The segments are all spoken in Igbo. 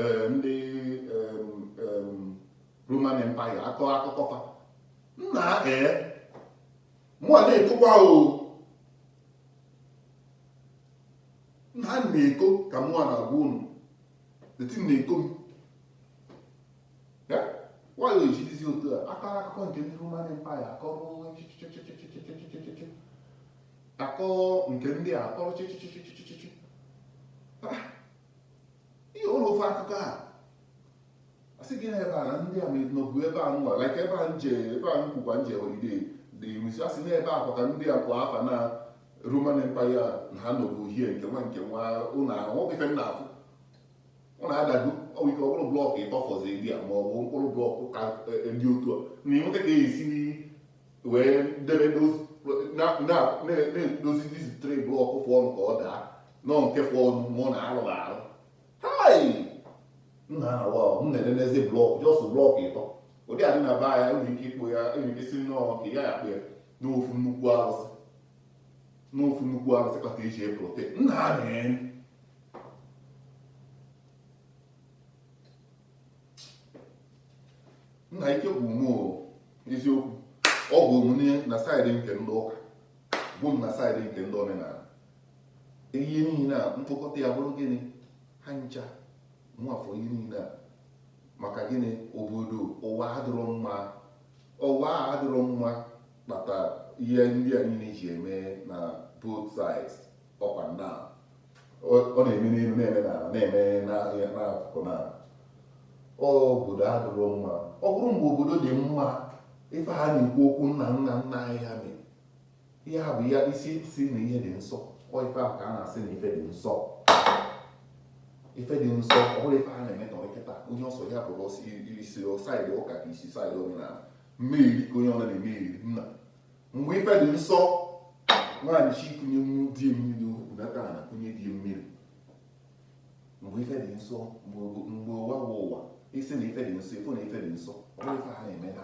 eh, ndị Roman Empire akọ akụkọ fa nna ee eh, mụa na-ekokwa o nna na-eko ka mụa na-agwa unu deti na-eko m nwayọ ejidizi otu a akọrọ akụkọ nke ndị Roman Empire akọrọ akọ nke ndị a akọrọ chịchịchịchịchịchị ihe ụlọ ofe akụkọ a sị gị na ebe a na ndị a nọbu ebe a nwa like ebe a nje ebe a nkwukwa nje holiday dị i ruzi a sị na ebe akwa ka ndị a kwa afa na Roman Empire na ha nọbu hie nke nwa nke nwa ụlọ ahụ ife nna afụ ụlọ adago ọwụ ike ọ bụrụ block ịtọ fọzi dị a ma ọ bụ mkpụrụ block ka ndị otu a na ịnweta ka e si wee debe na-edozi these three block fụ ọnụ ka ọ daa nọ nke fọ ọnụ mụ na arụghị arụ hai m na-arụ ahụ m na-enenezi block just block ịtọ ụdị a dị na be anyị e nwere ike ịkpụ ya e nwere ike si nnọọ ka ya akpụ ya n'ofu nnukwu arụsị n'ofu nnukwu arụsị kpata iji eprote m na-amịrị nna ike bụ mụ eziokwu ọ bụ omume na side nke ndị ụka bụ m na side nke ndị omenala ihe niile a mkpokọta ya bụrụ gịnị ha ncha nwafọ ihe niile a maka gịnị obodo ụwa adịrọ mma ụwa adịrọ mma kpata ihe ndị a niile ji eme na both sides up and down ọ na-eme n'elu na-eme n'ala na-eme n'akụkụ na obodo adịrọ mma ọ bụrụ mgbe obodo dị mma ife ha na-ekwu okwu nna nna nna anyị ha mere ihe a bụ ya ị sị na ihe dị nsọ ọ ife ahụ ka a na-asị na ife dị nsọ ife dị nsọ ọ bụrụ ife a na-eme kịta onye ọ sọ ya bụrụ ọ sọ i si side ụka ka i si side omenala mmeri ka onye ọ na-eme eri nna mgbe ife dị nsọ nwaanyị chi kụnye di mmiri ụdaka na kụnye di mmiri mgbe ife dị nsọ mgbe ụwa bụ ụwa ị sị na ife dị nsọ ị fụ na ife dị nsọ ọ bụrụ ife ha na-eme na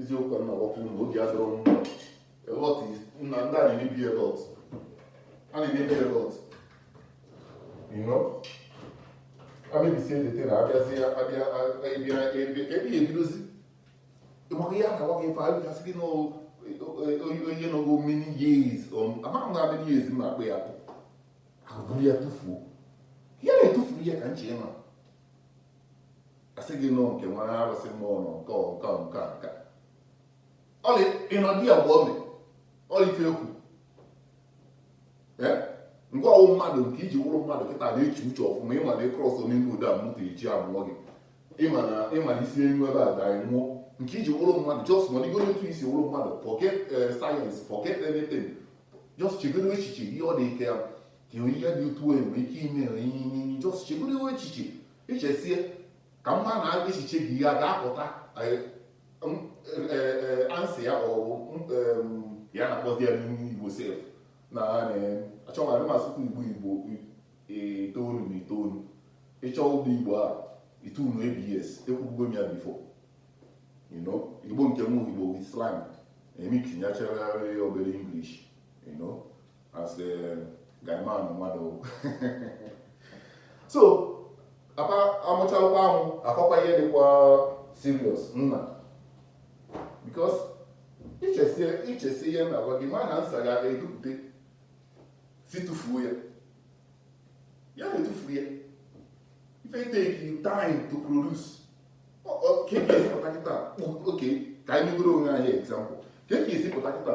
eziokwu na agwakwu na obi adịrọ m mma a lot na ndị a na-emebi a lot a na-emebi a lot you know amebisie ndete na abịazi abịa ebịa ebe ebe ebidozi maka ihe a na-agwa gị ife anyị ga-asị gị na onye nọgo many years amaghị na many years m na-akpọ ya akpụ e buru ya tụfuo ihe na-etufuru ya ka nche ma asị gị nọ nke nwere arụsị mmụọ nọ nke nke nke nke ọlị ịnọdị ya bụ ọmị ọlị ife ekwu ngwa ọwụ mmadụ nke iji wụrụ mmadụ kịta na-eche uche ọfụma ịma na ị cross n'ime ụzọ a moto eji amụọ gị ịma na i si enu ebe a daa nwụọ nke iji wụrụ mmadụ just ma ọdịgo otu i si wụrụ mmadụ forget eh, science forget anything just chegodo echiche ihe ọ dị ike ya ka ihe dị otu onye nwere ike ime ihe just chegodo echiche i chesie ka mma na echiche gị ya ga-apụta answer ya ọwụ ya na-akpọzi ya n'ime igbo sef na achọghị adị masịkwa igbo igbo itoolu na itoolu ịchọ ụgbọ igbo a itoolu abs ekwubugo m ya before igbo nke m igbo with slang e mixinyachara obere english you know as a guy man mmadụ so apa amụchalụkwa ahụ akọkwa ihe dịkwa serious nna because i chesie ihe na-agwa gị ma na nsa ga-aga edupụta sị tụfuo ya ya na-etufu ya ife take you time to produce ka e ga-esi pụta kịta okay ka anyị megoro onwe anyị example ka e ga-esi pụta kịta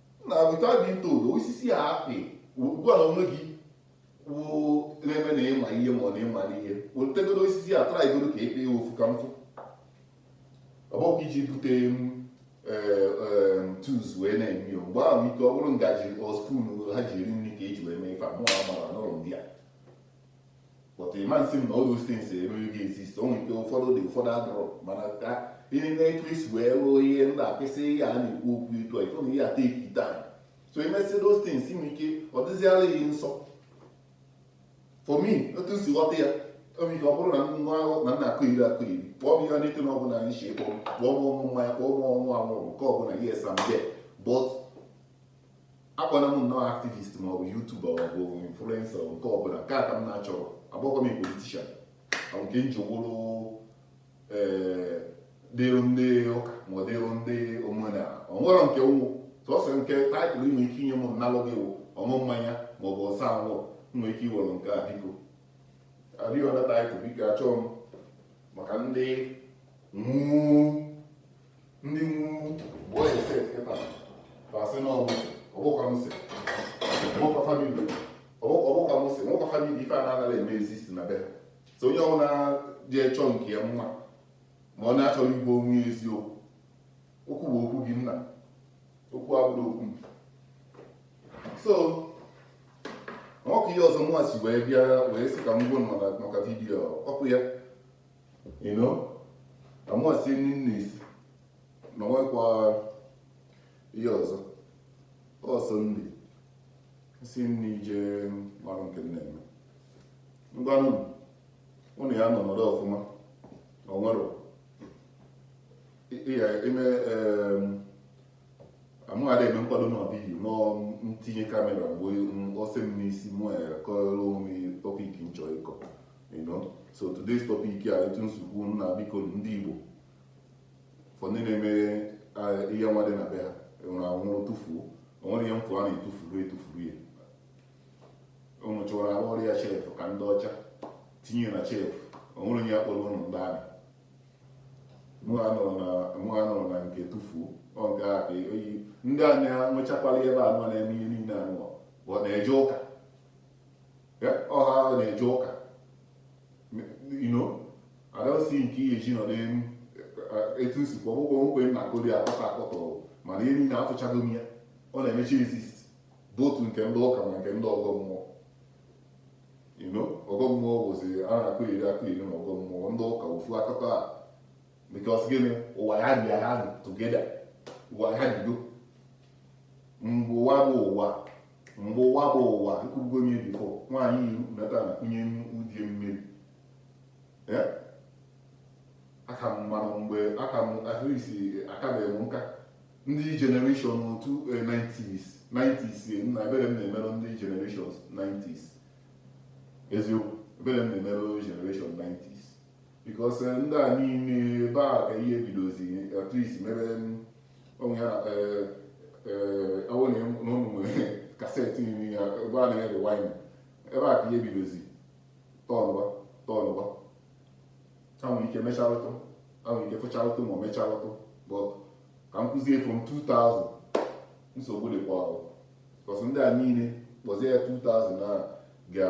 na otu a dị ntoro osisi a apị ugbu a na onwe gị wụ na-eme na ịma ihe ma ọ na ịma ihe wetegodo osisi a trygodo ka ịkpe ya ofu ka m fụ ọ bụkwa iji bute m ee, ee, tools wee na-eme ya mgbe ahụ ike ọ bụrụ ngaji or spoon ha ji eri nri ka eji wee mee ife a mụ amara n'ụlọ ndị a but ị ma nsị m na all those things emeghị gị exist o nwere ike ụfọdụ dị ụfọdụ adịrọ mana ka ihe na etu e si wee rụọ ihe ndị a kwesị ihe a na-ekwu okwu ịtọ ị fụ na ihe a take it time so emesịa those things nwere ike ọ dịziara ya nsọ for me otu si ghọta ya o mee ka ọ bụrụ na nwa a na-akọyeri akọyeri kpọọ m ihe n'ike na ọ bụla nshi kpọọ m kpọọ m ọṅụ mmanya kpọọ m ọṅụ anwụrụ nke ọbụla yes I'm there but akpọna m nnọọ activist ma ọ bụ youtuber ma ọ bụ influencer nke ọbụla nke a ka m na-achọrọ agbakwa m politician or nke m ji wụrụ ee dịrụ ndị ụka ma ọ dịrụ ndị omenala o nwerọ nke m wụ sọsọ nke title i nwe ike inye m m nalụ gị wụ ọṅụ mmanya ma ọ bụ ọse anwụrụ nwere ike iwere nke a biko any other title biko achọọ m maka ndị nwuu ndị nwuwu bụ onye set kịta tasị na ọmụsị ọgbọkwa msị ọgbọkwa family ọgbọkwa msị o nwekwa family ife a na-anaghị eme exist na be ha so onye ọbụla ji chọọ nke ya mma ma ọ na-achọghị ịgwa onwe ya eziokwu okwu bụ okwu gị nna okwu abụrọ okwu m so nwoke ihe ọzọ mụwa si wee bịa wee sị ka m gwa ụnụ maka vidiyo ọkụ ya you know amasị nri nne isi na nwekwa ihe ọzọ ọsọ nri si nri jee mara nke m na-eme ngwanụ ụnụ ya nọ nọrọ ọfụma na onwere ya eme amụghara eme nkwado na vidiyo m tinye kamera mgbe ọsị m n'isi mụ ya kọrọ onwe topic m chọ ịkọ you know so today's topic a etu nsogbu nna biko ndị Igbo for ndị na-eme eh, ihe nwa dị na be ha enwere anwụrụ tụfuo onwere ihe mfụ a na-etufuru etufuru ya ụnụ chọrọ arụ ọrụ ya chef ka ndị ọcha tinye na chef onwere onye ya kpọrọ ụnụ ndị amị mụ ha nọrọ na nke tụfuo ọ nke a ka oyi ndị a na-enwechakwala ebe a nọ na-eme ihe niile anụọ bụ na-eje ụka ọha na-eje ụka adọsi nke ihe ji nọdụ etu nsikwa ọgbụgbọ nkwe na akụri akọta akọta mana ihe niile atụchago m ya ọ na-emecha exist bụ otu nke ndị ụka ma nke ndị ọgọ mmụọ you know ọgọ mmụọ bụzi a na-akụ iri akụ iri na ọgọ mmụọ ndị ụka ofu akụkọ a because gịnị ụwa ya bịara together ụwa ya bido mgbe ụwa bụ ụwa mgbe ụwa bụ ụwa nkụgo nye before nwaanyị iru nata na kwunye udie mmiri aka m mmanụ mgbe aka m at least akabeghị m nka ndị generation of 90s 90s nna ebere m na-emerụ ndị generation 90s eziokwu ebere m na-emerụ generation 90s because eh, ndị a niile ebe a ka ihe bidozi at least mere onwe ha awụ na ụmụ cassette niile ya ebe a na-erewind ebe a ka ihe bidozi tọnụwa tọnụwa ha nwere ike mecharụtụ ha nwere ike fụcharụtụ ma ọ mecharụtụ but ka m kwuzie from 2000 nsogbu dịkwa ọrụ because ndị a niile kpọzie ya 2000 na-aga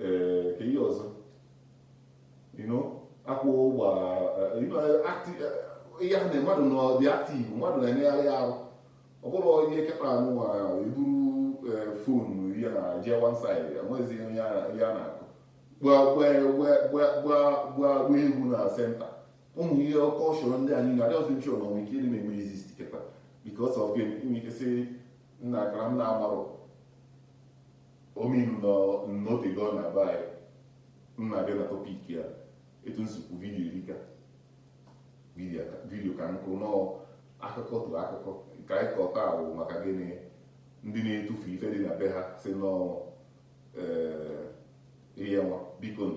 ee ka ihe ọzọ akwa ụgba ihe ha na mmadụ nọ dị active mmadụ na-emegharị arụ ọ bụrụ onye kịta anụ eburu eh, phone ya na jee one side enweghịzi ihe ya na-akụ gbaa egwu na center ụmụ ihe okoso oro ndị anyị na-adị ọzọ nchọrọ na nwere ike ịdị na-eme exist kịta because of game inwe ike sị nna akara m na-amarụ Ominu nọ n'otego na-aba anyị m na-abịa na topic ya etu nsi kwu video erika video ka nkụ nọọ akụkọ tụ akụkọ ka anyị kọ taa wụ maka gịnị ndị na-etufu ife dị na be ha si nọọ ee ihe nwa bikonụ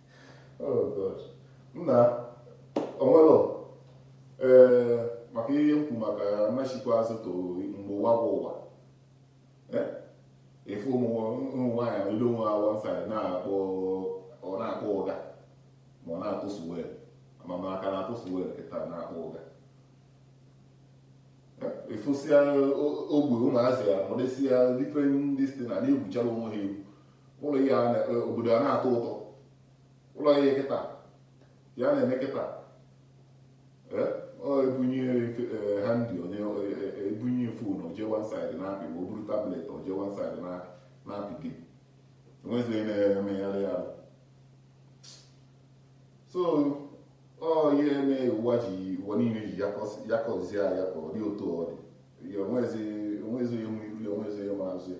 oh, nna onwelo ee eh, maka ihe m kwu maka m achikwa azụ to mgbe ụwa bụ ụwa eh, ị fụ ụmụ nwaanyị elu onwe ha one side na-akpọ ọ na-akpọ ụga ma ọ na-atụ swell ama ma a ka na-atụ swell kịta na-akpọ ụga ị fụsịa ogbe ụmụazị ya nọdesịa different distance na-egwuchara onwe ha egwu ụlọ ihe e, obodo a na-atọ ụtọ ụlọ ihe kịta ya na-eme kịta e, ebunye e, ha ndị ebunye phone o je one side na-apị ma o buru tablet o je one side na-apị gị enwezi onye na-emegharị ya so ọ ihe eme ụwa ji ụwa niile ji yakọzie ya ka ọ dị otu ọ dị onwezi onye ma iru ya onwezi onye ma azụ ya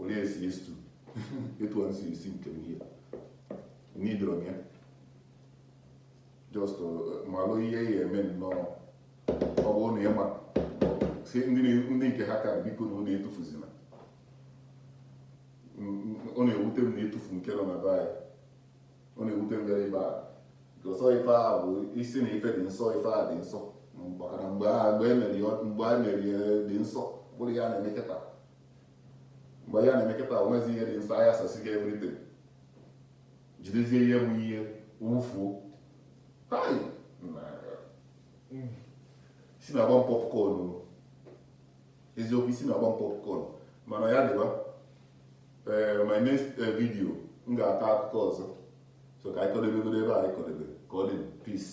olee esi istu etu a nsi esi nke m ihe n'idoro m ya just uh, malụ ihe ya eme nnọọ ọ bụrụ na ịma si ndị na- ndị nke ha ka bikonụ unu etufuzina ọ na-ewute m na etufu nke nọ na be anyị ọ na-ewute m bịara ebe a nke ọsọ ife a bụ isi na ife dị nsọ ife a dị nsọ maka na mgbe a mgbe emeri mgbe a meri dị nsọ bụrụ ya na-eme kịta mgbe ya na-eme kịta onwezi ihe dị nsọ a yasasịgo everything jidezie ihe bụ ihe wufuo hai na isi na-agba m popcorn o. eziokwu isi na-agba m popcorn mana ya dịba ee eh, my next eh, video m ga-akọ akụkọ ọzọ so ka anyị kọdebegoro ebe a anyị kọdebe ka ọ dị peace